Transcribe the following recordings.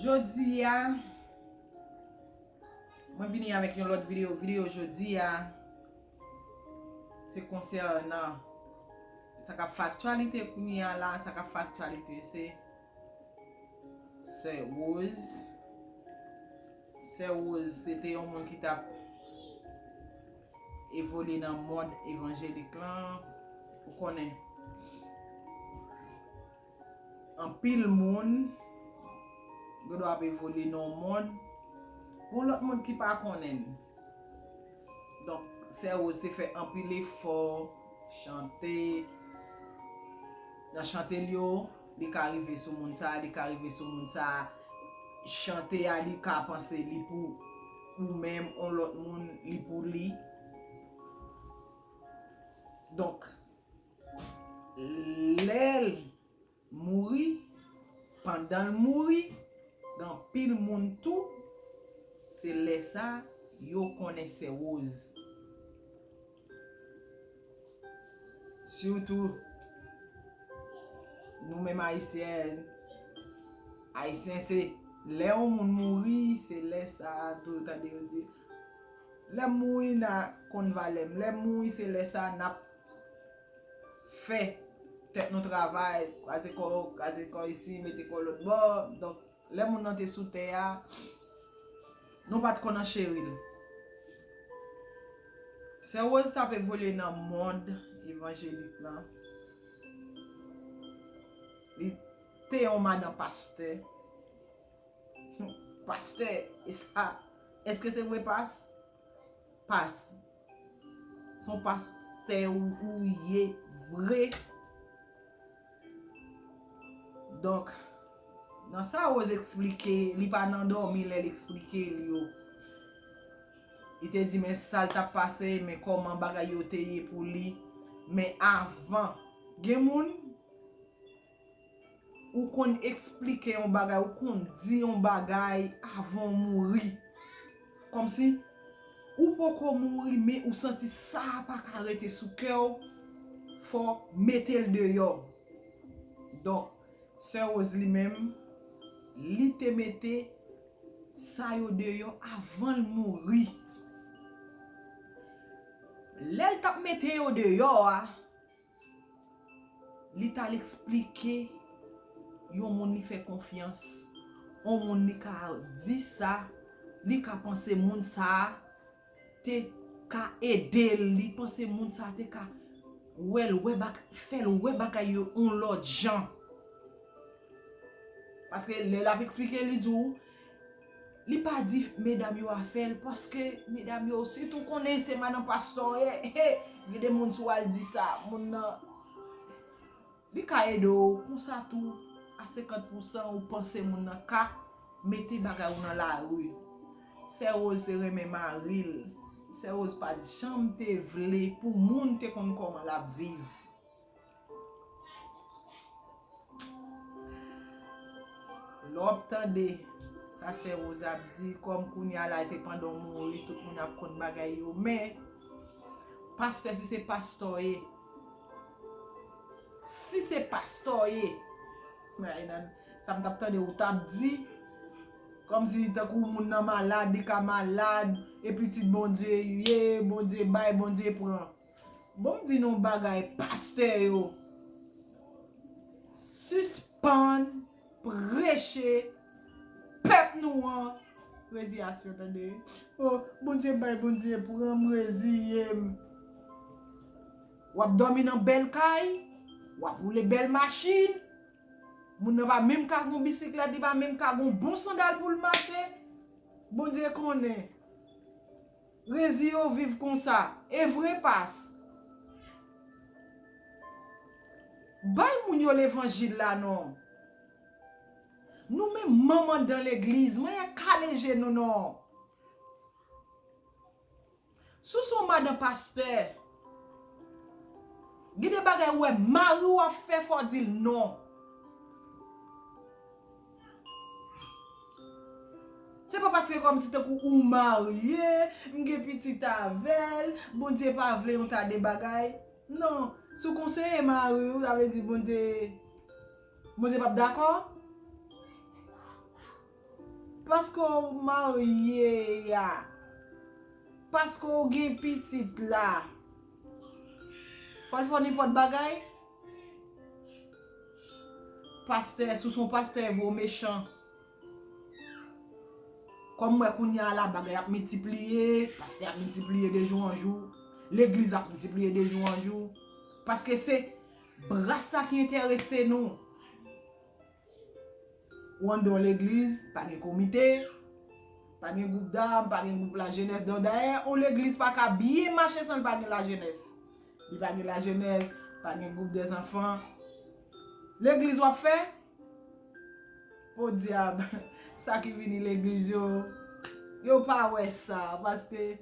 Jodi a Mwen vini avèk yon lòt video Video jodi a Se konsènan Sa kap fè aktyalite kounye a la Sa kap fè aktyalite se Sè Rose Sè Rose se te yon moun ki tap Evolye nan mond Evanjelik lan Ou konnen Anpil moun gen dwa ap evolye nan yon mond pou yon lòt moun ki pa konnen n. Donk, Sè Woz te fè anpil efò, chante. Nan chante l yo, li ka rive sou moun sa a, li ka rive sou moun sa a. Chante a li ka panse li pou ou menm, yon lòt moun li pou li. Donk, Lel mouri pandanl mouri gen anpil moun tou se lèsa yo konnen sè rose sitou nou menm ayisyen ayisyen se lè yon moun mouri se lèsa tou tande yo di lèm mouri na konn valèm lèm mouri se lèsa nap fè tèt nou travay, kraze kò, kraze kò isi, mete kò lòt bò, donk lè moun nan te sou tè a, nou pat konn an cheri l. Sè Woz tap evolye nan mond evanjelik lan, li te yon madan pastè, pastè, eske se vre pas? Pas. Son pas tè ou ye vre. Donk. Nan sa Rose eksplike. Li pa nan domi lè li eksplike li yo. Li te di men sal tap pase. Men koman bagay yo te ye pou li. Men avan. Gen moun. Ou konn esplike yon bagay, ou konn di yon bagay avan ou mouri. Kòmsi, ou poko mouri men ou santi sa a pa ka rete sou kè ou, fò ou mete l deyò. Donk, Sè Woz li menm, li te mete sa yo deyò avan l mouri. Lè l t ap mete yo deyò a. Li t al esplike yon moun li fè konfyans, yon moun li ka di sa li ka panse moun sa a te ka ede l, li panse moun sa a te ka wè l, fè l wè bagay yo yon lòt jan. Paske lè l ap esplike li di w. Li pa di medam yo a fèl paske medam yo si tou konnen se madan pastè w ye he gen de moun sou al di sa moun nan li ka ede w konsa tou a 50 pou 100 ou panse moun nan ka mete bagay ou nan lari sè Rose te renmen mari l sè Rose pat janm te vle pou moun te konn koman lap viv. Lè wap tande sa sè Rose ap di kòm kounya la se pandan w mouri tout moun ap konn bagay yo men pastè si se pastè w ye si se pastè w ye sa m tap tande ou tap di kòm si tankou moun nan malad li ka malad e pitit Bondye ou ye Bondye bay Bondye pran. Bon di nou bagay pastè yo sispann preche pèp nou an reziyasyon tande oh bondye bay bondye pran m reziye m wap domi nan bèl kay wap woule bèl machin moun nan pa menm ka gon bisiklèt li pa menm ka gon bon sandal pou l mache bondye konnen. Rezi yo viv konsa. Evre pas. Bay moun yo levanjil la non. Nou menm manman dan legliz mwen ye kale je nou non. Si w son madan pastè. Gen de bagay ou wè mari w ap fè fò w di l non. Se pa paske kòmsi tankou ou marye, m gen pitit avè l, Bondye pa vle yon ta de bagay. Non, si w konseye mari w, sa vle di Bondye, Bondye p ap dakò? Paske w marye a, paske w gen pitit la, fò l fè w nenpòt bagay? Pastè si w son pastè vre w mechan Kom m wè kounya a la bagay ap mitipliye pastè ap mitipliye de jou an jou legliz ap mitipliye de jou an jou paske se bras la ki enterese nou. Wondon legliz pa gen komite, pa gen gwoup dam, pa gen gwoup lajenès donk dayè yon legliz pa ka byen mache san l pa gen lajenès. Li pa gen lajenès, pa gen gwoup dèzanfan. Legliz w ap fè? Podyab, sa ki vini legliz yo, yo pa wè sa paske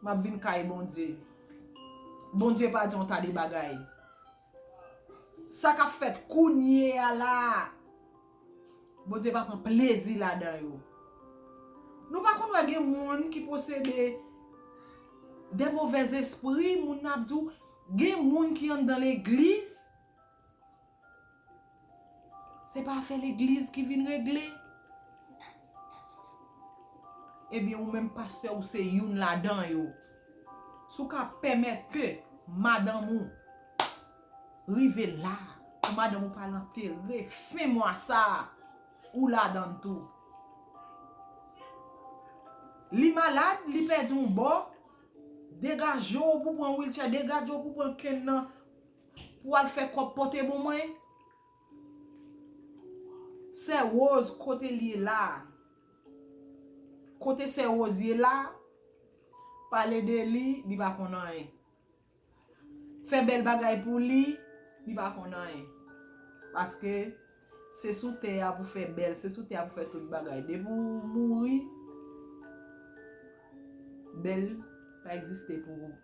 Map vin kay bondye. Bondye pa diw ta de bagay. Sa kap fet kounye a la. Bondye pa pran plezi la dan yo. Nou pa konn we gen moun ki posede de movez espri moun nan ap diw gen moun ki andan legliz. Se pa afè legliz ki vin regle. Ebyen ou menm pastè ou se youn ladan yo. Si w ka pèmèt ke madanm ou rive la, pou madanm ou pa al antere fen mwa sa, ou ladan l tou. Li malad, li pèdi yon bò, degaje w pou pran wilchè, degaje w pou pran kenn nan Pou al fè kòb pote bon mwen. Sè rose kote li ye la. Kote sè rose ye la. Pale de li li pa konn anyen. Fè bèl bagay pou li li pa konn anyen. Paske se sou tè ya pou fè bèl se sou tè ya pou fè tout bagay. Depi ou mouri bèl pa egziste pou ou.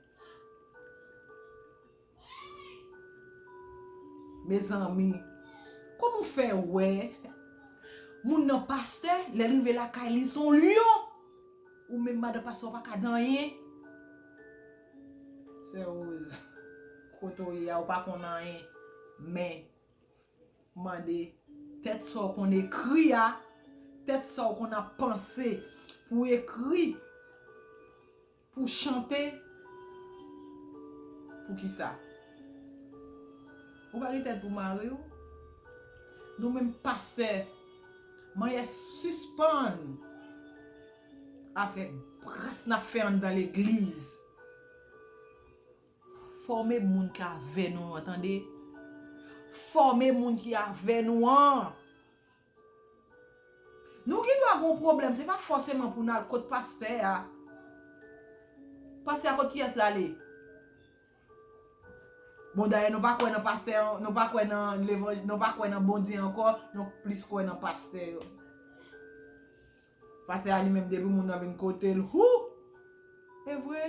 Mezanmi Kòman ou fè wè Moun nan pastè lèl rive lakay li son lyon ou menm madan pastè ou paka di anyen Sè Rose Kote ou ye a ou pa konn anyen men Mande tèt sa ou konn ekri a tèt sa ou konn ap panse pou ekri. Pou chante pou kisa? Ou pa gen tèt pou mari w? Nou menm pastè manyè sispann avèk bras nap fè anndan legliz fòme moun ki avè nou an tande fòme moun ki avè nou an Nou gen dwa gen yon pwoblèm, se pa fòseman pou n al kot pastè a. Pastè a kot kiyès l ale? Bon dayè nou pa kwè nan pastè, nou pa kwè nan levanj, nou pa kwè nan Bondye ankò, nou plis kwè nan pastè yo. Pastè a li menm depi moun nan vin kote l, hou! E vre?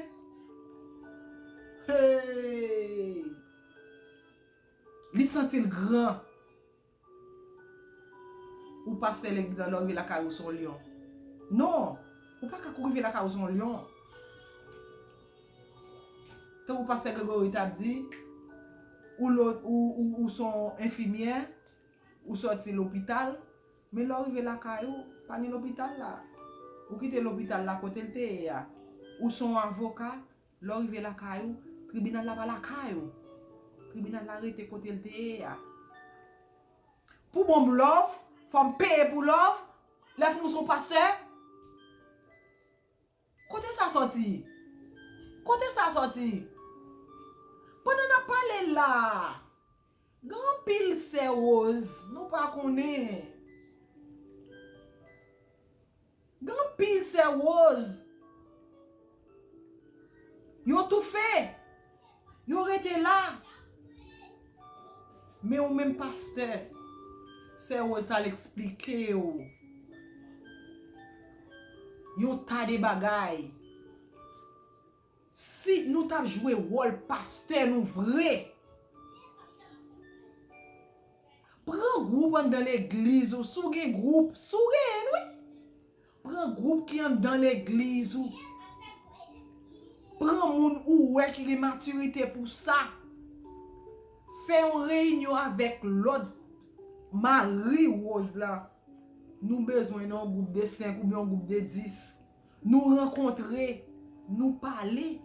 Hey! Li santi l gran. Ou pastè lè bizan lè ou rive lakay ou son lyon non ou paka kou rive lakay ou son lyon tankou pastè Gregory tap di ou lo ou son enfimyè ou sòti lopital men lè ou rive lakay ou pa gen lopital la ou kite lopital la kotel te ye a ou son avoka Lè w rive lakay ou, tribinal la pa lakay ou. Tribinal la rete kote l te ye a. Pou ban m lòv, fò m peye pou lòv, lè fini w se yon pastè? Kote sa sòti? Kote sa sòti? Pandan n ap pale la a, Gen anpil sè rose nou pa konnen. Gen anpil sè rose. Yo toufe. Yo rete la. Men ou menm pastè. Sè rose tal esplike ou. Yon ta de bagay. Si nou tap jwe wòl pastè nou vre. Pran gwoup anndan legliz ou si w gen gwoup, si w genyen l wi. Pran gwoup ki anndan legliz ou. Pran moun ou wè ki gen matirite pou sa. Fè yon reyinyon avèk lòt Mari Woz la. Nou bezwen nan yon gwoup de 5 oubyen yon gwoup de 10. Nou rankontre, nou pale.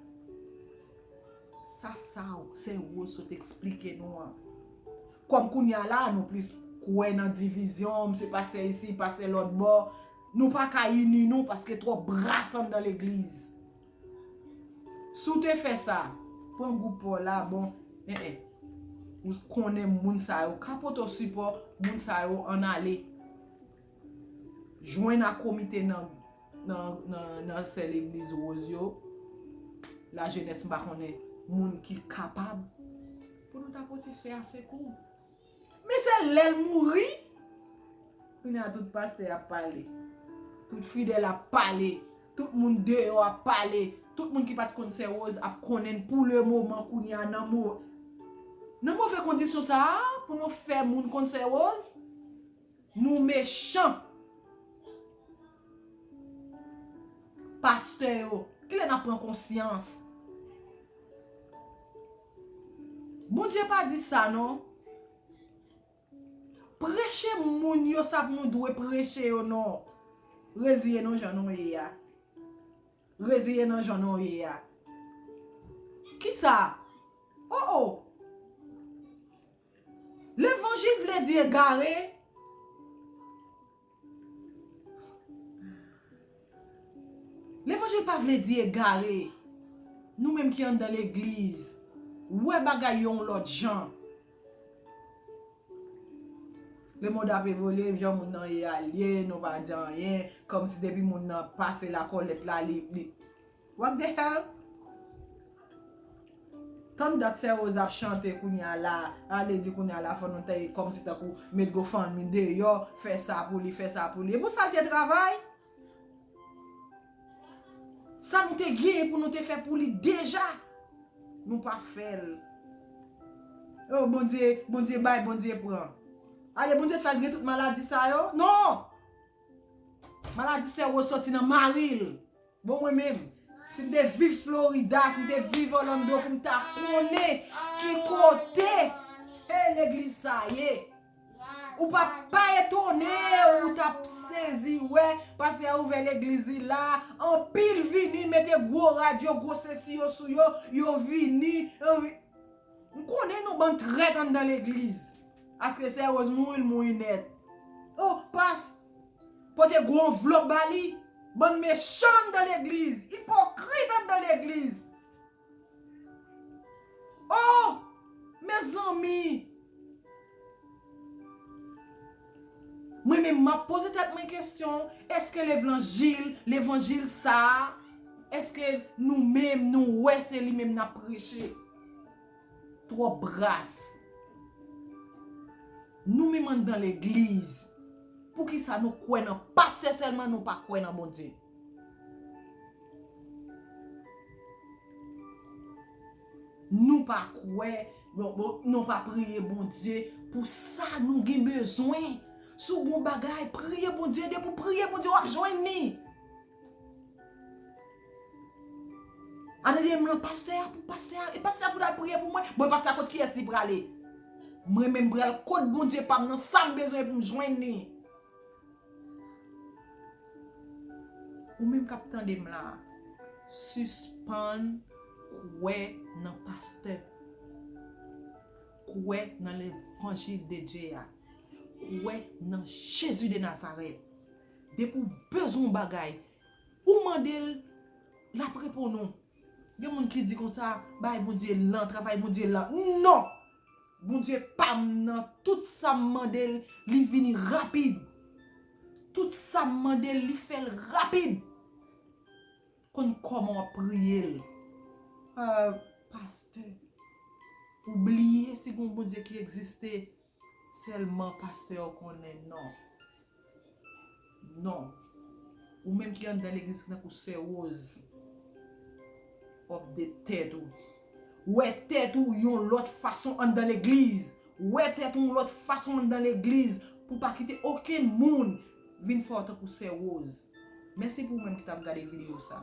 Sa sa w, Sen Woz sot eksplike nou an. Kòm kounye a la a nou plis kwè nan divizyon, m se pastè isi, pastè lòtbò, nou pa ka ini nou paske twòp bras anndan legliz. Si w te fè sa, pran gwoup pa w la a bon, en en. Ou konnen moun sa yo, ka pote w sipò, moun sa yo ann ale. Jwenn ak komite nan nan sè legliz Rose yo, la jenès m pa konnen moun ki kapab pou nou ta pote sè a sekou. Men se lè l mouri, kounya tout pastè ap pale, tout fidèl ap pale, tout moun deyò ap pale, tout moun ki pa t konn sè Rose ap konnen l pou le moman kounya nan move kondisyon sa a pou nou fè moun konn sè Rose. Nou mechan. Pastè yo. Kilè nap pran konsyans. Bondye pa di sa non. Preche moun yo sa pou nou dwe preche yo non. Reziye nou jan nou ye a. Reziye nan jan nou ye a. Kisa? Oh oh. Levanjil vle di egare. Levanjil pa vle di egare. Nou menm ki anndan legliz. Wè bagay yo yon lòt jan. Le mond ap evolye, jan moun nan ye a li ye, nou pa di anyen, kòm si depi moun nan pase lakolèt la li. What the hell? Tann dat sè Rose ap chante kounya la a li di kounya la fò nou ta ye kòmsi tankou met gofundme deyò fè sa pou li fè sa pou li e pou sa l te travay sa nou te gen pou nou te fè pou li deja nou pa fè l oh bondye bondye bay bondye pran ale bondye te fè l gen tout maladi sa yo non maladi sè Rose sòti nan mari l. Bon mwen menm, si m te viv Florida, si m te viv Orlando pou m ta konnen ki kote he legliz sa ye. Ou pa pa etone ou ta sezi we pastè a ouvè legliz li la, anpil vini mete gwo rad yo, gwo sesi yo sou yo, yo vini. M konnen nou bann trèt anndan legliz. Aske sè Rose mouri, l mouri nèt. Oh pas! Pote gwo anvlop ba li. Bann mechan anndan legliz. Ipokrit anndan legliz. Oh! Mezanmi! Mwen menm map poze tèt mwen kestyon, eske levlanjil, levanjil sa a, eske nou menm nou wè se li menm nap preche? Trop bras. Nou minm andan legliz. Poukisa nou kwe nan paste selman nou pa kwe nan Bondye. Nou pa kwe. Nou pa priye Bondye. Pou sa nou gen bezwen. Sou bon bagay priye Bondye. Depi ou priye Bondye wap jwen ni. Atelier m lan pastè a pou pastè a e pastè a pou l al priye pou mwen. Bon e pastè a kot kiyès li prale? Mwen menm m pral kot Bondye pa m nan sa m bezwen pou m jwenn li. Ou menm k ap tande m la a, sispann kwè nan pastè. Kwè nan levanjil de Dye a. Kwè nan Jezi de Nazarèt. Depi ou bezwen yon bagay, ou mande l, l ap reponn ou. Gen moun ki di konsa, bagay Bondye lan, travay Bondye lan. Non! Bondye pa m nan, tout sa m mande l, li vini rapid. Tout sa m mande l, li fè l rapid. Konn kòman w ap priye l. Ahh, pastè, ou bliye si gen yon Bondye ki egziste? Selman pastè ou konnen non. Non. Ou menm ki anndan legliz ki tankou sè Rose. Wap de tèt ou. Wè tèt ou yon lòt fason anndan legliz. Wè tèt ou yon lòt fason anndan legliz pou pa kite okenn moun vin fè ou tankou sè Rose. Mèsi pou ou menm ki tap gade video sa.